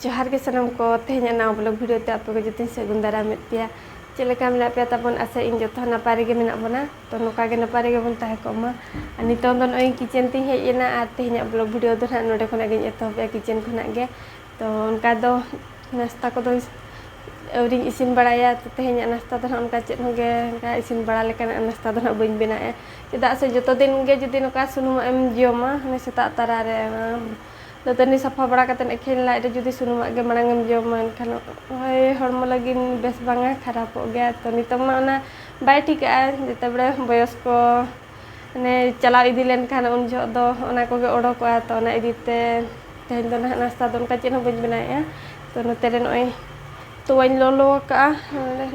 ᱡᱚᱦᱟᱨ ᱜᱮ ᱥᱟᱱᱟᱢ ᱠᱚ ᱛᱮᱦᱮᱧ ᱱᱟᱣᱟ ᱵᱞᱚᱜ ᱵᱷᱤᱰᱤᱭᱳ ᱛᱮ ᱟᱯᱮ ᱠᱚ ᱡᱚᱛᱚᱧ ᱥᱟᱹᱜᱩᱱ ᱫᱟᱨᱟᱢᱮᱫ ᱯᱮᱭᱟ ᱪᱮᱫ ᱞᱮᱠᱟ ᱢᱮᱱᱟᱜ ᱯᱮᱭᱟ ᱛᱟᱵᱚᱱ ᱟᱥᱟ ᱤᱧ ᱡᱚᱛᱚ ᱱᱟᱯᱟᱭ ᱨᱮᱜᱮ ᱢᱮᱱᱟᱜ ᱵᱚᱱᱟ ᱛᱚ ᱱᱚᱝᱠᱟ ᱜᱮ ᱱᱟᱯᱟᱭ ᱨᱮᱜᱮ ᱵᱚᱱ ᱛᱟᱦᱮᱸ ᱠᱚᱜ ᱢᱟ ᱟᱨ ᱱᱤᱛᱚᱝ ᱫᱚ ᱱᱚᱜᱼᱚᱭ ᱠᱤᱪᱮᱱ ᱛᱤᱧ ᱦᱮᱡ ᱮᱱᱟ ᱟᱨ ᱛᱮᱦᱮᱧᱟᱜ ᱵᱞᱚᱜ ᱵᱷᱤᱰᱤᱭᱳ ᱫᱚ ᱱᱟᱦᱟᱜ ᱱᱚᱰᱮ ᱠᱷᱚᱱᱟᱜ ᱜᱤᱧ ᱮᱛᱚᱦᱚᱵᱮᱜᱼᱟ ᱠᱤᱪᱮᱱ ᱠᱷᱚᱱᱟᱜ ᱜᱮ ᱛᱚ ᱚᱱᱠᱟ ᱫᱚ ᱱᱟᱥᱛᱟ ᱠᱚᱫᱚ ᱟᱹᱣᱨᱤᱧ ᱤᱥᱤᱱ ᱵᱟᱲᱟᱭᱟ ᱛᱚ ᱛᱮᱦᱮᱧᱟᱜ ᱱᱟᱥᱛᱟ ᱫᱚ ᱱᱟᱦᱟᱜ ᱚᱱᱠᱟ ᱪᱮᱫ ᱦᱚᱸᱜᱮ ᱚᱱᱠᱟ ᱤᱥᱤᱱ ᱵᱟᱲᱟ ᱞᱮᱠᱟᱱᱟᱜ ᱱᱟᱥᱛᱟ ᱫᱚ ᱱᱟᱦᱟᱜ ᱵᱟᱹᱧ ᱵᱮᱱᱟᱣᱮᱜᱼᱟ ᱪᱮᱫᱟᱜ ᱥᱮ ᱡᱚᱛᱚ ᱫᱤᱱ ᱜᱮ ᱡᱩᱫᱤ ᱱᱚᱝᱠᱟ ᱥᱩᱱᱩᱢᱟᱜ ᱮᱢ ᱡᱚᱢᱟ ᱦᱟᱱᱮ ᱥᱮᱛᱟᱜ ᱛᱟᱨᱟ ᱨᱮ ᱫᱟᱹᱛᱟᱹᱱᱤ ᱥᱟᱯᱷᱟ ᱵᱟᱲᱟ ᱠᱟᱛᱮ ᱮᱠᱷᱮᱱ ᱞᱟᱡ ᱨᱮ ᱡᱩᱫᱤ ᱥᱩᱱᱩᱢᱟᱜ ᱜᱮ ᱢᱟᱲᱟᱝ ᱮᱢ ᱡᱚᱢᱟ ᱮᱱᱠᱷᱟᱱ ᱦᱳᱭ ᱦᱚᱲᱢᱚ ᱞᱟᱹᱜᱤᱫ ᱵᱮᱥ ᱵᱟᱝᱟ ᱠᱷᱟᱨᱟᱯᱚᱜ ᱜᱮᱭᱟ ᱛᱚ ᱱᱤᱛᱚᱜ ᱢᱟ ᱚᱱᱟ ᱵᱟᱭ ᱴᱷᱤᱠᱟᱹᱜᱼᱟ ᱡᱮᱛᱮ ᱵᱟᱲᱮ ᱵᱚᱭᱚᱥ ᱠᱚ ᱢᱟᱱᱮ ᱪᱟᱞᱟᱣ ᱤᱫᱤ ᱞᱮᱱᱠᱷᱟᱱ ᱩᱱ ᱡᱚᱦᱚᱜ ᱫᱚ ᱚᱱᱟ ᱠᱚᱜᱮ ᱚᱰᱚᱠᱚᱜᱼᱟ ᱛᱚ ᱚᱱᱟ ᱤᱫᱤ ᱛᱮ ᱛᱮᱦᱮᱧ ᱫᱚ ᱱᱟᱦᱟᱜ ᱱᱟᱥᱛᱟ ᱫᱚ ᱚᱱᱠᱟ ᱪᱮᱫ ᱦᱚᱸ ᱵᱟᱹᱧ ᱵᱮᱱᱟᱣᱮᱜᱼᱟ ᱛᱚ ᱱᱚᱛᱮ ᱨᱮ ᱱᱚᱜᱼᱚᱸᱭ ᱛᱚᱣᱟᱧ ᱞᱚᱞᱚ ᱟᱠᱟᱜᱼᱟ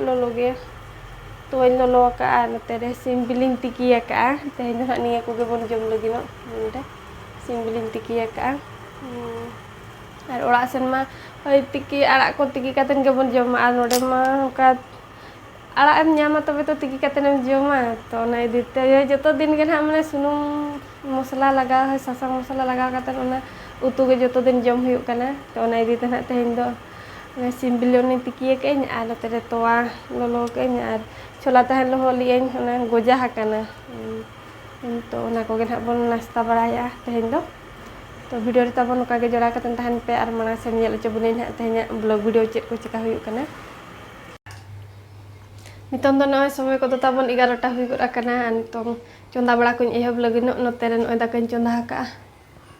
ᱞᱚᱞᱚ ᱜᱮ ᱛᱚᱣᱟᱧ ᱞᱚᱞᱚ ᱟᱠᱟᱫᱼᱟ ᱟᱨ ᱱᱚᱛᱮ ᱨᱮ ᱥᱤᱢ ᱵᱤᱞᱤᱧ ᱛᱤᱠᱤ ᱟᱠᱟᱫᱼᱟ ᱛᱮᱦᱮᱧ ᱫᱚ ᱦᱟᱸᱜ ᱱᱤᱭᱟᱹ ᱠᱚᱜᱮ ᱵᱚᱱ ᱡᱚᱢ ᱞᱟᱹᱜᱤᱫᱚᱜ ᱱᱚᱰᱮ ᱥᱤᱢ ᱵᱤᱞᱤᱧ ᱛᱤᱠᱤ ᱟᱠᱟᱫᱼᱟ ᱟᱨ ᱚᱲᱟᱜ ᱥᱮᱱ ᱢᱟ ᱦᱳᱭ ᱛᱤᱠᱤ ᱟᱲᱟᱜ ᱠᱚ ᱛᱤᱠᱤ ᱠᱟᱛᱮᱱ ᱜᱮᱵᱚᱱ ᱡᱚᱢᱟ ᱟᱨ ᱱᱚᱰᱮ ᱢᱟ ᱚᱱᱠᱟ ᱟᱲᱟᱜ ᱮᱢ ᱧᱟᱢᱟ ᱛᱚᱵᱮ ᱛᱚ ᱛᱤᱠᱤ ᱠᱟᱛᱮᱱ ᱮᱢ ᱡᱚᱢᱟ ᱛᱚ ᱚᱱᱟ ᱤᱫᱤ ᱛᱮ ᱡᱚᱛᱚ ᱫᱤᱱ ᱜᱮ ᱱᱟᱦᱟᱜ ᱢᱟᱱᱮ ᱥᱩᱱᱩᱢ ᱢᱚᱥᱞᱟ ᱞᱟᱜᱟᱣ ᱥᱟᱥᱟᱝ ᱢᱚᱥᱞᱟ ᱞᱟᱜᱟᱣ ᱠᱟᱛᱮᱱ ᱚᱱᱟ ᱩᱛᱩ ᱜᱮ ᱡᱚᱛᱚ ᱫᱤᱱ ᱡᱚᱢ ᱦᱩᱭᱩᱜ ᱠᱟᱱᱟ ᱛᱚ ᱚᱱᱟ ᱤᱫᱤ ᱛᱮ ᱱᱟᱦᱟᱜ ᱛᱮᱦᱮᱧ ᱫᱚ ᱥᱤᱢ ᱵᱤᱞᱤ ᱚᱱᱮᱧ ᱛᱤᱠᱤ ᱟᱠᱟᱫ ᱟᱹᱧ ᱟᱨ ᱱᱚᱛᱮ ᱨᱮ ᱛᱚᱣᱟ ᱞᱚᱞᱚ ᱟᱠᱟᱫ ᱟᱹᱧ ᱟᱨ ᱪᱷᱚᱞᱟ ᱛᱟᱦᱮᱱ ᱞᱚᱦᱚᱫ ᱞᱮᱫ ᱟᱹᱧ ᱚᱱᱟ ᱜᱚᱡᱟ ᱟᱠᱟᱱᱟ ᱛᱚ ᱚᱱᱟ ᱠᱚᱜᱮ ᱱᱟᱦᱟᱜ ᱵᱚᱱ ᱱᱟᱥᱛᱟ ᱵᱟᱲᱟᱭᱟ ᱛᱮᱦᱮᱧ ᱫᱚ ᱛᱚ ᱵᱷᱤᱰᱤᱭᱳ ᱨᱮ ᱛᱟᱵᱚᱱ ᱱᱚᱝᱠᱟ ᱜᱮ ᱡᱚᱲᱟᱣ ᱠᱟᱛᱮᱫ ᱛᱟᱦᱮᱱ ᱯᱮ ᱟᱨ ᱢᱟᱲᱟᱝ ᱥᱮᱫ ᱧᱮᱞ ᱦᱚᱪᱚ ᱵᱚᱱᱟᱹᱧ ᱱᱟᱦᱟᱜ ᱛᱮᱦᱮᱧᱟᱜ ᱵᱞᱚᱜ ᱵᱷᱤᱰᱤᱭᱳ ᱪᱮᱫ ᱠᱚ ᱪᱮᱠᱟ ᱦᱩᱭᱩᱜ ᱠᱟᱱᱟ ᱱᱤᱛᱚᱝ ᱫᱚ ᱱᱚᱜᱼᱚᱭ ᱥᱚᱢᱚᱭ ᱠᱚᱫᱚ ᱛᱟᱵᱚᱱ ᱮᱜᱟᱨᱚᱴᱟ ᱦᱩᱭ ᱜᱚᱫ ᱟᱠᱟᱱᱟ ᱟᱨ ᱱᱤᱛᱚᱝ ᱪᱚᱸᱫᱟ ᱵᱟᱲᱟ ᱠᱚᱧ ᱮᱦᱚᱵ ᱞᱟᱹᱜᱤᱫᱚᱜ ᱱᱚᱛᱮ ᱨᱮ ᱱᱚᱜᱼᱚᱭ ᱫᱟᱠᱟᱧ ᱪᱚᱸᱫᱟ ᱟᱠᱟᱫᱼᱟ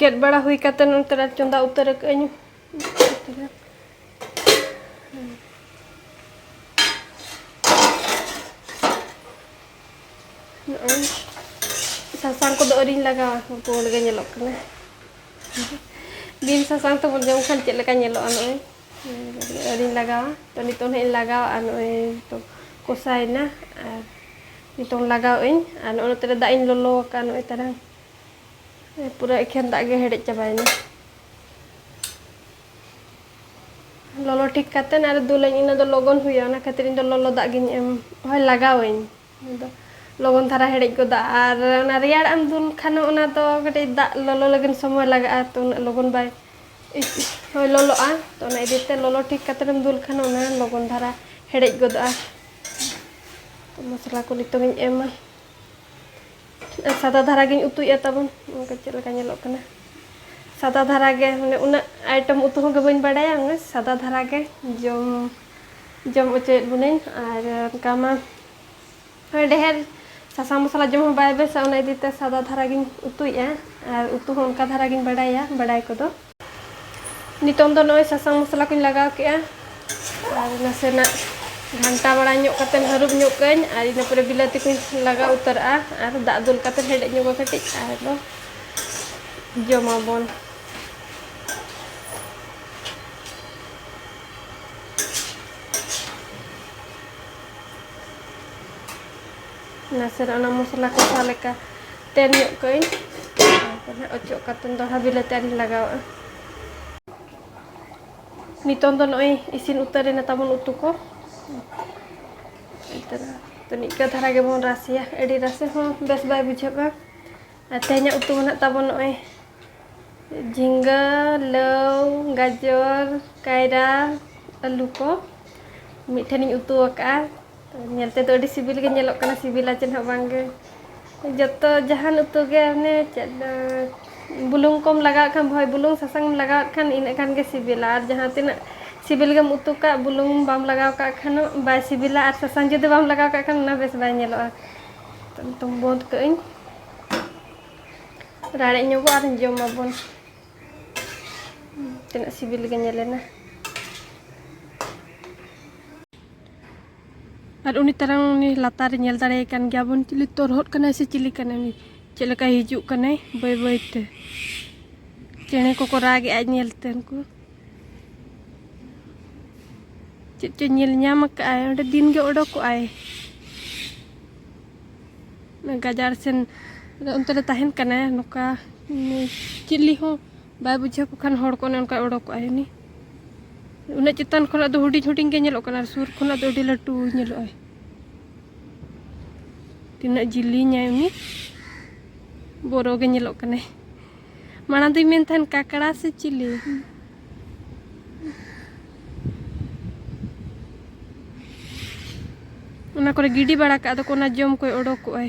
ᱜᱮᱫ ᱵᱟᱲᱟ ᱦᱩᱭ ᱠᱟᱛᱮ ᱱᱚᱱᱛᱮ ᱨᱮ ᱪᱚᱸᱫᱟ ᱩᱛᱟᱹᱨ ᱟᱠᱟᱫ ᱟᱹᱧ ᱱᱚᱜᱼᱚᱭ ᱥᱟᱥᱟᱝ ᱠᱚᱫᱚ ᱟᱹᱣᱨᱤᱧ ᱞᱟᱜᱟᱣᱟ ᱯᱩᱸᱰ ᱜᱮ ᱧᱮᱞᱚᱜ ᱠᱟᱱᱟ ᱵᱤᱱ ᱥᱟᱥᱟᱝ ᱛᱮᱵᱚᱱ ᱡᱚᱢ ᱠᱷᱟᱱ ᱪᱮᱫ ᱞᱮᱠᱟ ᱧᱮᱞᱚᱜᱼᱟ ᱱᱚᱜᱼᱚᱭ ᱟᱹᱣᱨᱤᱧ ᱞᱟᱜᱟᱣᱟ ᱛᱚ ᱱᱤᱛᱚᱝ ᱦᱟᱸᱜ ᱤᱧ ᱞᱟᱜᱟᱣᱟ ᱟᱨ ᱱᱚᱜᱼᱚᱭ ᱱᱤᱛᱚᱝ ᱠᱚᱥᱟᱭᱮᱱᱟ ᱟᱨ ᱱᱤᱛᱚᱝ ᱞᱟᱜᱟᱣ ᱟᱹᱧ ᱟᱨ ᱱᱚᱜᱼᱚᱭ ᱱᱚᱛᱮ ᱨᱮ ᱫᱟᱜ ᱤᱧ ᱞᱚᱞᱚ ᱟᱠᱟᱫᱼᱟ ᱱᱚᱜᱼᱚᱭ ᱛᱟᱨᱟᱝ ᱯᱩᱨᱟᱹ ᱮᱠᱷᱮᱱ ᱫᱟᱜ ᱜᱮ ᱦᱮᱰᱮᱡ ᱪᱟᱵᱟᱭᱮᱱᱟ ᱞᱚᱞᱚ ᱴᱷᱤᱠ ᱠᱟᱛᱮ ᱟᱨ ᱫᱩᱞᱟᱹᱧ ᱤᱱᱟᱹ ᱫᱚ ᱞᱚᱜᱚᱱ ᱦᱩᱭᱩᱜᱼᱟ ᱚᱱᱟ ᱠᱷᱟᱹᱛᱤᱨ ᱤᱧ ᱫᱚ ᱞᱚᱞᱚ ᱫᱟᱜ ᱜᱤᱧ ᱮᱢ ᱦᱳᱭ ᱞᱟᱜᱟᱣᱟᱹᱧ ᱟᱫᱚ ᱞᱚᱜᱚᱱ ᱫᱷᱟᱨᱟ ᱦᱮᱰᱮᱡ ᱜᱚᱫᱟ ᱟᱨ ᱚᱱᱟ ᱨᱮᱭᱟᱲ ᱮᱢ ᱫᱩᱞ ᱠᱷᱟᱱ ᱚᱱᱟ ᱫᱚ ᱠᱟᱹᱴᱤᱡ ᱫᱟᱜ ᱞᱚᱞᱚ ᱞᱟᱹᱜᱤᱫ ᱥᱚᱢᱚᱭ ᱞᱟᱜᱟᱜᱼᱟ ᱛᱚ ᱩᱱᱟᱹᱜ ᱞᱚᱜᱚᱱ ᱵᱟᱭ ᱦᱳᱭ ᱞᱚᱞᱚᱜᱼᱟ ᱛᱚ ᱚᱱᱟ ᱤᱫᱤ ᱛᱮ ᱞᱚᱞᱚ ᱴᱷᱤᱠ ᱠᱟᱛᱮ ᱮᱢ ᱫᱩᱞ ᱠᱷᱟᱱ ᱚᱱᱟ ᱞᱚᱜᱚᱱ ᱫᱷᱟᱨᱟ ᱦᱮᱰᱮᱡ ᱜᱚᱫᱚᱜᱼᱟ ᱢᱚᱥᱞᱟ ᱠᱚ ᱱᱤᱛᱚᱜ ᱤᱧ ᱮᱢᱟ ᱥᱟᱫᱟ ᱫᱷᱟᱨᱟ ᱜᱮᱧ ᱩᱛᱩᱭᱮᱫᱼᱟ ᱛᱟᱵᱚᱱ ᱚᱱᱠᱟ ᱪᱮᱫ ᱞᱮᱠᱟ ᱧᱮᱞᱚᱜ ᱠᱟᱱᱟ ᱥᱟᱫᱟ ᱫᱷᱟᱨᱟ ᱜᱮ ᱢᱟᱱᱮ ᱩᱱᱟᱹᱜ ᱟᱭᱴᱮᱢ ᱩᱛᱩ ᱦᱚᱸ ᱜᱮ ᱵᱟᱹᱧ ᱵᱟᱰᱟᱭᱟ ᱚᱱᱟ ᱥᱟᱫᱟ ᱫᱷᱟᱨᱟ ᱜᱮ ᱡᱚᱢ ᱡᱚᱢ ᱚᱪᱚᱭᱮᱫ ᱵᱚᱱᱟᱹᱧ ᱟᱨ ᱚᱱᱠᱟ ᱢᱟ ᱰᱷᱮᱨ ᱥᱟᱥᱟᱝ ᱢᱚᱥᱞᱟ ᱡᱚᱢ ᱦᱚᱸ ᱵᱟᱭ ᱵᱮᱥᱟ ᱚᱱᱟ ᱤᱫᱤᱛᱮ ᱥᱟᱫᱟ ᱫᱷᱟᱨᱟ ᱜᱮᱧ ᱩᱛᱩᱭᱮᱫᱼᱟ ᱟᱨ ᱩᱛᱩ ᱦᱚᱸ ᱚᱱᱠᱟ ᱫᱷᱟᱨᱟ ᱜᱮᱧ ᱵᱟᱰᱟᱭᱟ ᱵᱟᱰᱟᱭ ᱠᱚᱫᱚ ᱱᱤᱛᱚᱝ ᱫᱚ ᱱᱚᱜᱼᱚᱭ ᱥᱟᱥᱟᱝ ᱢᱚᱥᱞᱟ ᱠᱚᱧ ᱞᱟᱜᱟᱣ ᱠᱮᱜᱼᱟ ᱟᱨ ᱱᱟᱥᱮᱱᱟᱜ ᱜᱷᱟᱱᱴᱟ ᱵᱟᱲᱟ ᱧᱚᱜ ᱠᱟᱛᱮ ᱦᱟᱹᱨᱩᱵ ᱧᱚᱜ ᱠᱟᱹᱧ ᱟᱨ ᱤᱱᱟᱹ ᱯᱚᱨᱮ ᱵᱤᱞᱟᱹᱛᱤ ᱠᱚᱧ ᱞᱟᱜᱟᱣ ᱩᱛᱟᱹᱨᱟᱜᱼᱟ ᱟᱨ ᱫᱟᱜ ᱫᱩᱞ ᱠᱟᱛᱮ ᱦᱮᱰᱮᱡ ᱧᱚᱜᱟ ᱠᱟᱹᱴᱤᱡ ᱟᱨ ᱫᱚ ᱡᱚᱢᱟᱵᱚᱱ ᱱᱟᱥᱮᱱᱟᱜ ᱚᱱᱟ ᱢᱚᱥᱞᱟ ᱠᱚᱥᱟᱣ ᱞᱮᱠᱟ ᱛᱮᱱ ᱧᱚᱜ ᱠᱟᱹᱧ ᱚᱪᱚᱜ ᱠᱟᱛᱮ ᱫᱚᱲᱦᱟ ᱵᱤᱞᱟᱹᱛᱤ ᱟᱨᱤᱧ ᱞᱟᱜᱟᱣᱟᱜᱼᱟ ᱱᱤᱛᱚᱝ ᱫᱚ ᱱᱚᱜᱼᱚᱭ ᱤᱥᱤᱱ ᱩᱛᱟᱹᱨᱮᱱᱟ ᱛᱟᱵᱚᱱ ᱩᱛᱩ ᱠᱚ ᱛᱚ ᱱᱤᱝᱠᱟᱹ ᱫᱷᱟᱨᱟ ᱜᱮᱵᱚᱱ ᱨᱟᱥᱮᱭᱟ ᱟᱹᱰᱤ ᱨᱟᱥᱮ ᱦᱚᱸ ᱵᱮᱥ ᱵᱟᱭ ᱵᱩᱡᱷᱟᱹᱜᱼᱟ ᱟᱨ ᱛᱮᱦᱮᱧᱟᱜ ᱩᱛᱩ ᱢᱮᱱᱟᱜ ᱛᱟᱵᱚᱱ ᱱᱚᱜᱼᱚᱭ ᱡᱷᱤᱸᱜᱟᱹ ᱞᱟᱹᱣ ᱜᱟᱡᱚᱨ ᱠᱟᱭᱨᱟ ᱟᱹᱞᱩ ᱠᱚ ᱢᱤᱫᱴᱷᱮᱱᱤᱧ ᱩᱛᱩ ᱟᱠᱟᱫᱼᱟ ᱧᱮᱞ ᱛᱮᱫᱚ ᱟᱹᱰᱤ ᱥᱤᱵᱤᱞ ᱜᱮ ᱧᱮᱞᱚᱜ ᱠᱟᱱᱟ ᱥᱤᱵᱤᱞᱟ ᱪᱮᱫ ᱦᱚᱸ ᱵᱟᱝ ᱜᱮ ᱡᱚᱛᱚ ᱡᱟᱦᱟᱱ ᱩᱛᱩ ᱜᱮ ᱚᱱᱮ ᱪᱮᱫ ᱵᱩᱞᱩᱝ ᱠᱚᱢ ᱞᱟᱜᱟᱣᱟᱜ ᱠᱷᱟᱱ ᱦᱳᱭ ᱵᱩᱞᱩᱝ ᱥᱟᱥᱟᱝ ᱮᱢ ᱞᱟᱜᱟᱣᱟᱜ ᱠᱷᱟᱱ ᱤᱱᱟᱹᱜ ᱠᱷᱟᱱ ᱜᱮ ᱥᱤᱵᱤᱞᱟ ᱟᱨ ᱡᱟᱦᱟᱸ ᱛᱤᱱᱟᱹᱜ ᱥᱤᱵᱤᱞ ᱜᱮᱢ ᱩᱛᱩ ᱠᱟᱜ ᱵᱩᱞᱩᱝ ᱵᱟᱢ ᱞᱟᱜᱟᱣ ᱠᱟᱜ ᱠᱷᱟᱱ ᱵᱟᱭ ᱥᱤᱵᱤᱞᱟ ᱟᱨ ᱥᱟᱥᱟᱝ ᱡᱩᱫᱤ ᱵᱟᱢ ᱞᱟᱜᱟᱣ ᱠᱟᱜ ᱠᱷᱟᱱ ᱚᱱᱟ ᱵᱮᱥ ᱵᱟᱭ ᱧᱮᱞᱚᱜᱼᱟ ᱛᱚ ᱵᱚᱱᱫ ᱠᱟᱜ ᱟᱹᱧ ᱨᱟᱲᱮᱡ ᱧᱚᱜᱚᱜ ᱟᱨ ᱡᱚᱢᱟᱵᱚᱱ ᱛᱤᱱᱟᱹᱜ ᱥᱤᱵᱤᱞ ᱜᱮ ᱧᱮᱞᱮᱱᱟ ᱟᱨ ᱩᱱᱤ ᱛᱟᱨᱟᱝ ᱩᱱᱤ ᱞᱟᱛᱟᱨ ᱨᱮ ᱧᱮᱞ ᱫᱟᱲᱮᱭᱟᱭ ᱠᱟᱱ ᱜᱮᱭᱟ ᱵᱚᱱ ᱪᱤᱞᱤ ᱛᱚᱨᱦᱚᱫ ᱠᱟᱱᱟᱭ ᱥᱮ ᱪᱤᱞᱤ ᱠᱟᱱᱟᱭ ᱩᱱᱤ ᱪᱮᱫ ᱞᱮᱠᱟᱭ ᱦᱤᱡᱩᱜ ᱠᱟᱱᱟᱭ ᱵᱟᱹᱭ ᱵᱟᱹᱭ ᱛᱮ ᱪᱮᱬᱮ ᱠᱚᱠᱚ ᱨᱟᱜᱮᱜᱼᱟ ᱧᱮᱞ ᱛᱮ ᱩᱱᱠᱩ ᱪᱮᱫ ᱪᱚ ᱧᱮᱞ ᱧᱟᱢ ᱟᱠᱟᱫᱼᱟᱭ ᱚᱸᱰᱮ ᱫᱤᱱ ᱜᱮ ᱚᱰᱚᱠᱚᱜᱼᱟᱭ ᱜᱟᱡᱟᱲ ᱥᱮᱱ ᱚᱱᱛᱮ ᱨᱮ ᱛᱟᱦᱮᱱ ᱠᱟᱱᱟᱭ ᱱᱚᱝᱠᱟ ᱪᱤᱞᱤ ᱦᱚᱸ ᱵᱟᱭ ᱵᱩᱡᱷᱟᱹᱣ ᱠᱚ ᱠᱷᱟᱱ ᱦᱚᱲ ᱠᱚ ᱚᱱᱮ ᱚᱱᱠᱟ ᱚᱰᱚᱠᱚᱜᱼᱟ ᱩᱱᱤ ᱩᱱᱟᱹᱜ ᱪᱮᱛᱟᱱ ᱠᱷᱚᱱᱟᱜ ᱫᱚ ᱦᱩᱰᱤᱧ ᱦᱩᱰᱤᱧ ᱜᱮ ᱧᱮᱞᱚᱜ ᱠᱟᱱᱟ ᱥᱩᱨ ᱠᱷᱚᱱᱟᱜ ᱫᱚ ᱟᱹᱰᱤ ᱞᱟᱹᱴᱩ ᱧᱮᱞᱚᱜᱼᱟᱭ ᱛᱤᱱᱟᱹᱜ ᱡᱤᱞᱤᱧᱟᱭ ᱩᱱᱤ ᱵᱚᱨᱚ ᱜᱮ ᱧᱮᱞᱚᱜ ᱠᱟᱱᱟᱭ ᱢᱟᱲᱟᱝ ᱫᱚᱧ ᱢᱮᱱ ᱛᱟᱦᱮᱱ ᱠᱟᱠᱲᱟ ᱥᱮ ᱪᱤᱞᱤ ᱚᱱᱟ ᱠᱚᱨᱮ ᱜᱤᱰᱤ ᱵᱟᱲᱟ ᱠᱟᱜ ᱫᱚᱠᱚ ᱚᱱᱟ ᱡᱚᱢ ᱠᱚᱭ ᱚᱰᱚᱠᱚᱜᱼᱟᱭ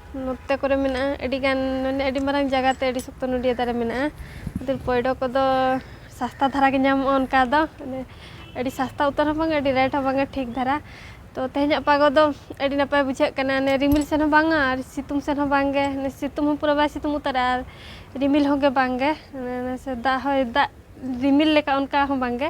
ᱱᱚᱛᱮ ᱠᱚᱨᱮ ᱢᱮᱱᱟᱜᱼᱟ ᱟᱹᱰᱤ ᱜᱟᱱ ᱢᱟᱱᱮ ᱟᱹᱰᱤ ᱢᱟᱨᱟᱝ ᱡᱟᱭᱜᱟ ᱛᱮ ᱟᱹᱰᱤ ᱥᱚᱠᱛᱚ ᱱᱚᱰᱤᱭᱟᱹ ᱫᱟᱨᱮ ᱢᱮᱱᱟᱜᱼᱟ ᱠᱤᱱᱛᱩ ᱯᱚᱭᱰᱚ ᱠᱚᱫᱚ ᱥᱟᱥᱛᱟ ᱫᱷᱟᱨᱟ ᱜᱮ ᱧᱟᱢᱚᱜᱼᱟ ᱚᱱᱠᱟ ᱫᱚ ᱢᱟᱱᱮ ᱟᱹᱰᱤ ᱥᱟᱥᱛᱟ ᱩᱛᱟᱹᱨ ᱦᱚᱸ ᱵᱟᱝᱟ ᱟᱹᱰᱤ ᱨᱮᱴ ᱦᱚᱸ ᱵᱟᱝᱟ ᱴᱷᱤᱠ ᱫᱷᱟᱨᱟ ᱛᱚ ᱛᱮᱦᱮᱧᱟᱜ ᱯᱟᱜᱚ ᱫᱚ ᱟᱹᱰᱤ ᱱᱟᱯᱟᱭ ᱵᱩᱡᱷᱟᱹᱜ ᱠᱟᱱᱟ ᱚᱱᱮ ᱨᱤᱢᱤᱞ ᱥᱮᱱ ᱦᱚᱸ ᱵᱟᱝᱟ ᱟᱨ ᱥᱤᱛᱩᱝ ᱥᱮᱱ ᱦᱚᱸ ᱵᱟᱝᱜᱮ ᱥᱤᱛᱩᱝ ᱦᱚᱸ ᱯᱩᱨᱟᱹ ᱵᱟᱭ ᱥᱤᱛᱩᱝ ᱩᱛᱟᱹᱨᱟ ᱟᱨ ᱨᱤᱢᱤᱞ ᱦᱚᱸᱜᱮ ᱵᱟᱝᱜᱮ ᱥᱮ ᱫᱟᱜ ᱦᱚᱭ ᱫᱟᱜ ᱨᱤᱢᱤᱞ ᱞᱮᱠᱟ ᱚᱱᱠᱟ ᱦᱚᱸ ᱵᱟᱝᱜᱮ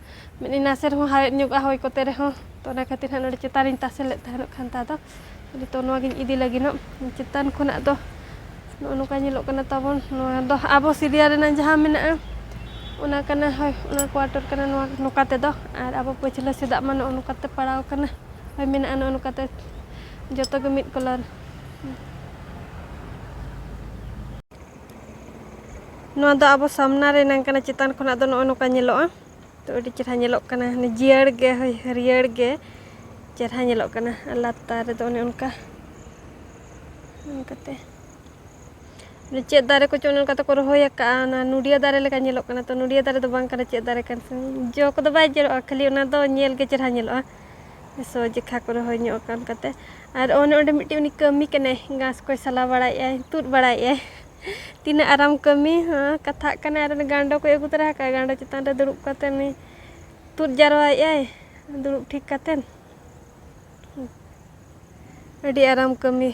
ᱢᱤᱫ ᱱᱟᱥᱮ ᱨᱮᱦᱚᱸ ᱦᱟᱣᱮᱫ ᱧᱚᱜᱼᱟ ᱦᱚᱭ ᱠᱚᱛᱮ ᱨᱮᱦᱚᱸ ᱛᱚ ᱚᱱᱟ ᱠᱷᱟᱹᱛᱤᱨ ᱦᱟᱸᱜ ᱱᱚᱰᱮ ᱪᱮᱛᱟᱱ ᱨᱤᱧ ᱛᱟᱥᱮ ᱞᱮᱫ ᱛᱟᱦᱮᱱᱚᱜ ᱠᱷᱟᱱᱛᱟ ᱫᱚ ᱱᱤᱛᱚᱜ ᱱᱚᱣᱟᱜᱤᱧ ᱤᱫᱤ ᱞᱟᱹᱜᱤᱫᱚᱜ ᱪᱮᱛᱟᱱ ᱠᱷᱚᱱᱟᱜ ᱫᱚ ᱱᱚᱜᱼᱚ ᱱᱚᱝᱠᱟ ᱧᱮᱞᱚᱜ ᱠᱟᱱᱟ ᱛᱟᱵᱚᱱ ᱱᱚᱣᱟ ᱫᱚ ᱟᱵᱚ ᱥᱤᱨᱤᱭᱟ ᱨᱮᱱᱟᱜ ᱡᱟᱦᱟᱸ ᱢᱮᱱᱟᱜᱼᱟ ᱚᱱᱟ ᱠᱟᱱᱟ ᱦᱳᱭ ᱚᱱᱟ ᱠᱚᱣᱟᱴᱚᱨ ᱠᱟᱱᱟ ᱱᱚᱣᱟ ᱱᱚᱝᱠᱟ ᱛᱮᱫᱚ ᱟᱨ ᱟᱵᱚ ᱯᱟᱹᱪᱷᱞᱟᱹ ᱥᱮᱫᱟᱜ ᱢᱟ ᱱᱚᱜᱼᱚ ᱱᱚᱝᱠᱟᱛᱮ ᱯᱟᱲᱟᱣ ᱠᱟᱱᱟ ᱦᱳᱭ ᱢᱮᱱᱟᱜᱼᱟ ᱱᱚᱜᱼᱚ ᱱᱚᱝᱠᱟᱛᱮ ᱡᱚᱛᱚᱜᱮ ᱢᱤᱫ ᱠᱟᱞᱟᱨ ᱱᱚᱣᱟ ᱫᱚ ᱟᱵᱚ ᱥᱟᱢᱱᱟ ᱨᱮ ᱱᱟᱝ ᱠᱟᱱᱟ ᱪᱮᱛᱟᱱ ᱠᱷᱚᱱᱟᱜ ᱫᱚ ᱱᱚᱜᱼᱚ ᱱᱚᱝᱠᱟ ᱧᱮᱞᱚᱜᱼᱟ ᱛᱚ ᱟᱹᱰᱤ ᱪᱮᱨᱦᱟ ᱧᱮᱞᱚᱜ ᱠᱟᱱᱟ ᱡᱤᱭᱟᱹᱲ ᱜᱮ ᱦᱳᱭ ᱦᱟᱹᱨᱭᱟᱹᱲ ᱜᱮ ᱪᱮᱨᱦᱟ ᱧᱮᱞᱚᱜ ᱠᱟᱱᱟ ᱟᱨ ᱞᱟᱛᱟᱨ ᱨᱮᱫᱚ ᱚᱱᱮ ᱚᱱᱠᱟ ᱚᱱᱠᱟᱛᱮ ᱪᱮᱫ ᱫᱟᱨᱮ ᱠᱚᱪᱚ ᱚᱱᱮ ᱚᱱᱠᱟ ᱛᱮᱠᱚ ᱨᱚᱦᱚᱭ ᱟᱠᱟᱫᱼᱟ ᱚᱱᱟ ᱱᱩᱰᱤᱭᱟᱹ ᱫᱟᱨᱮ ᱞᱮᱠᱟ ᱧᱮᱞᱚᱜ ᱠᱟᱱᱟ ᱛᱚ ᱱᱩᱰᱤᱭᱟᱹ ᱫᱟᱨᱮ ᱫᱚ ᱵᱟᱝ ᱠᱟᱱᱟ ᱪᱮᱫ ᱫᱟᱨᱮ ᱠᱟᱱ ᱡᱚ ᱠᱚᱫᱚ ᱵᱟᱭ ᱡᱚᱨᱚᱜᱼᱟ ᱠᱷᱟᱹᱞᱤ ᱚᱱᱟ ᱫᱚ ᱧᱮᱞ ᱜᱮ ᱪᱮᱨᱦᱟ ᱧᱮᱞᱚᱜᱼᱟ ᱥᱚ ᱡᱮᱠᱷᱟ ᱠᱚᱨᱮ ᱦᱚᱸ ᱧᱚᱜ ᱟᱠᱟᱱ ᱠᱟᱛᱮ ᱟᱨ ᱚᱱᱮ ᱚᱸᱰᱮ ᱢᱤᱫᱴᱤᱡ ᱩᱱᱤ ᱠᱟᱹᱢᱤ ᱠᱟᱱᱟᱭ ᱜᱷᱟᱥ ᱠᱚᱭ ᱥᱟᱞᱟ ᱵᱟᱲᱟᱭᱮᱜᱼᱟᱭ ᱛᱩᱫ ᱵᱟᱲᱟᱭᱮᱜᱼᱟᱭ ᱛᱤᱱᱟᱹᱜ ᱟᱨᱟᱢ ᱠᱟᱹᱢᱤ ᱦᱚᱸ ᱠᱟᱛᱷᱟᱜ ᱠᱟᱱᱟᱭ ᱟᱨ ᱩᱱᱤ ᱜᱟᱸᱰᱚ ᱠᱚᱭ ᱟᱹᱜᱩ ᱛᱚᱨᱟ ᱟᱠᱟᱫᱼᱟ ᱜᱟᱸᱰᱚ ᱪᱮᱛᱟᱱ ᱨᱮ ᱫᱩᱲᱩᱵ ᱠᱟᱛᱮ ᱩᱱᱤ ᱛᱩᱫ ᱡᱟᱨᱣᱟᱭᱮᱜᱼᱟᱭ ᱫᱩᱲᱩᱵ ᱴᱷᱤᱠ ᱠᱟᱛᱮ ᱟᱹᱰᱤ ᱟᱨᱟᱢ ᱠᱟᱹᱢᱤ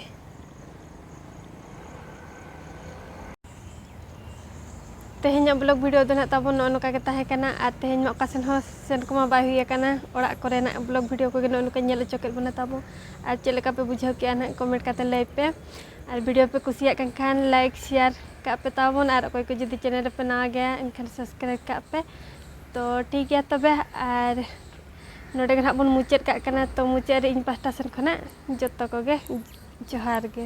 ᱛᱮᱦᱮᱧᱟᱜ ᱵᱞᱚᱜ ᱵᱷᱤᱰᱤᱭᱳ ᱫᱚ ᱱᱟᱜ ᱛᱟᱵᱚᱱ ᱱᱚᱜᱼᱚ ᱱᱚᱝᱠᱟ ᱜᱮ ᱛᱟᱦᱮᱸ ᱠᱟᱱᱟ ᱟᱨ ᱛᱮᱦᱮᱧ ᱢᱟ ᱚᱠᱟ ᱥᱮᱱ ᱦᱚᱸ ᱥᱮᱱ ᱠᱚᱢᱟ ᱵᱟᱭ ᱦᱩᱭ ᱟᱠᱟᱱᱟ ᱚᱲᱟᱜ ᱠᱚᱨᱮᱱᱟᱜ ᱵᱞᱚᱜ ᱵᱷᱤᱰᱤᱭᱳ ᱠᱚᱜᱮ ᱱᱚᱜᱼᱚ ᱱᱚᱝᱠᱟ ᱧᱮᱞ ᱦᱚᱪᱚ ᱠᱮᱫ ᱵᱚᱱᱟ ᱛᱟᱵᱚ ᱟᱨ ᱪᱮᱫ ᱞᱮᱠᱟ ᱯᱮ ᱵᱩᱡᱷᱟᱹᱣ ᱠᱮᱜᱼᱟ ᱱᱟᱜ ᱠᱚᱢᱮᱱᱴ ᱠᱟᱛᱮ ᱞᱟᱹᱭ ᱯᱮ ᱟᱨ ᱵᱷᱤᱰᱤᱭᱳ ᱯᱮ ᱠᱩᱥᱤᱭᱟᱜ ᱠᱟᱱ ᱠᱷᱟᱱ ᱞᱟᱭᱤᱠ ᱥᱮᱭᱟᱨ ᱠᱟᱜ ᱯᱮ ᱛᱟᱵᱚᱱ ᱟᱨ ᱚᱠᱚᱭ ᱠᱚ ᱡᱩᱫᱤ ᱪᱮᱱᱮᱞ ᱨᱮᱯᱮ ᱱᱟᱣᱟ ᱜᱮᱭᱟ ᱮᱱᱠᱷᱟᱱ ᱥᱟᱵᱥᱠᱨᱟᱭᱤᱵᱽ ᱠᱟᱜ ᱯᱮ ᱛᱚ ᱴᱷᱤᱠ ᱜᱮᱭᱟ ᱛᱚᱵᱮ ᱟᱨ ᱱᱚᱰᱮ ᱜᱮ ᱱᱟᱦᱟᱜ ᱵᱚᱱ ᱢᱩᱪᱟᱹᱫ ᱠᱟᱜ ᱠᱟᱱᱟ ᱛᱚ ᱢᱩᱪᱟᱹᱫ ᱨᱮ ᱤᱧ ᱯᱟᱦᱴᱟ ᱥᱮᱱ ᱠᱷᱚᱱᱟᱜ ᱡᱚᱛᱚ ᱠᱚᱜᱮ ᱡᱚᱦᱟᱨ ᱜᱮ